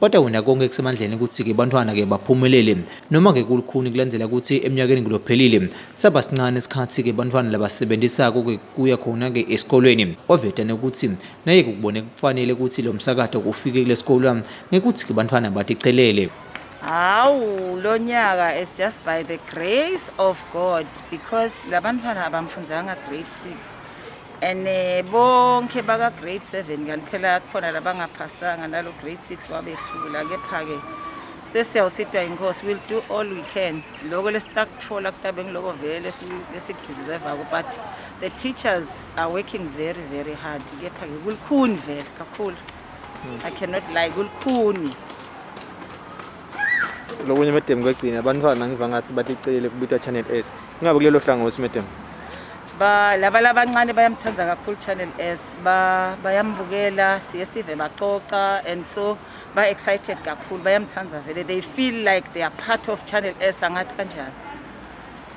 Kodwa wena konke kusemandleni ukuthi-ke bantwana-ke baphumelele noma-ke kulukhuni kulandela ukuthi eminyakeni ngilophelile saba sincane isikhathi-ke bantwana labasebenzisako-ke kuya khona-ke esikolweni waveta nokuthi naye kukubone kufanele ukuthi lo msakato ufike kule sikolo ngekuthi-ke bantwana baticelele hawu lo nyaka is just by the grace of god because labantwana abamfunzanga grade six and eh, bonke baka-grade seven kanti phela kukhona labangaphasanga nalo grade six wabehlula kepha-ke sesiyawusitwa inkosi will do all we can loko lesitakuthola kutabe ngiloko vele lesikudiservako but the teachers are working very very hard kepha-ke kulikhuni vele kakhulu hmm. i cannot lie kulikhuni lokunye madam kwegcina abantwana ngiva ngathi baticelile kubitwa channel s ingabe kulelo hlangothi madam ba laba labancane bayamthanda kakhulu channel s ba bayambukela siye sive baxoxa and so ba excited kakhulu bayamthanda vele they feel like they are part of channel s angathi kanjani